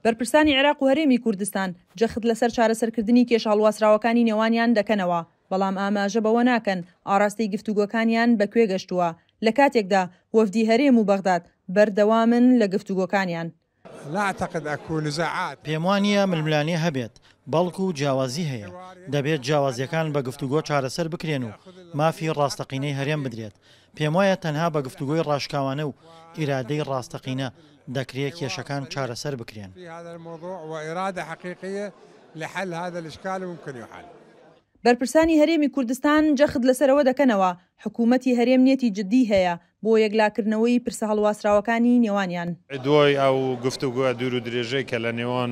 بەرپرسانی عێراق و هەرێمی کوردستان جەخت لەسەر چارەسەرکردنی کێشە هەڵواسراوەکانی نێوانیان دەکەنەوە، بەڵام ئاماژە بەوە ناکەن ئاراستەی گفتوگۆکانیان بە کوێ گەشتووە، لە کاتێکدا وەفدی هەرێم و بەغداد بەردەوامن لە گفتوگۆکانیان. پێموانییە ململانێ هەبێت، بەڵکو جیاوازی هەیە، دەبێت جیاوازییەکان بە گفتوگۆ چارەسەر بکرێن و مافی ڕاستەقینەی هەرێم بدرێت، پێموایە تەنها بە گفتوگۆی ڕاشکاوانە و ئیرادەی ڕاستەقینە دەکرێ کێشەکان چارەسەر بکرێن. بەرپرسانی هەرێمی کوردستان جەخت لەسەر ئەوە دەکەنەوە، حکوومەتی هەرێم نیەتی جددیی هەیە بۆ یەکلاکردنەوەی پرسە هەڵواسراوەکانی نێوانیان. دوای ئەو گفتوگۆ دوور و درێژەی کە لە نێوان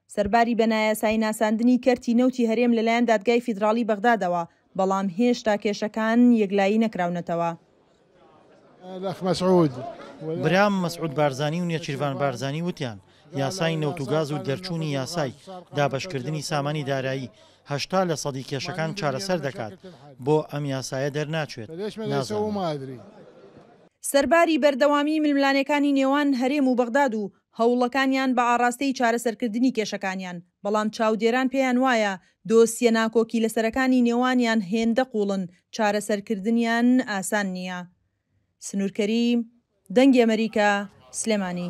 سەرباری بە نایاسایی ناساندنی کەرتی نەوتی هەرێم لەلایەن دادگای فیدراڵی بەغدادەوە، بەڵام هێشتا کێشەکان یەکلایی نەکراونەتەوە. برام مەسعود بارزانی و نێچیرڤان بارزانی وتیان، یاسای نەوت و گاز و دەرچوونی یاسای دابەشکردنی سامانی دارایی هەشتا لە سەدی کێشەکان چارەسەر دەکات، بۆ ئەم یاسایە دەرناچێت، نازانم. سەرباری بەردەوامیی ململانێکانی نێوان هەرێم و بەغداد و هەوڵەکانیان بە ئاڕاستەی چارەسەرکردنی کێشەکانیان، بەڵام چاودێران پێیان وایە دۆسیە ناکۆکیلەسەرەکانی نێوانیان هێندە قووڵن چارەسەرکردنیان ئاسان نییە. سنوور کەریم، دەنگی ئەمەریکا، سلێمانی.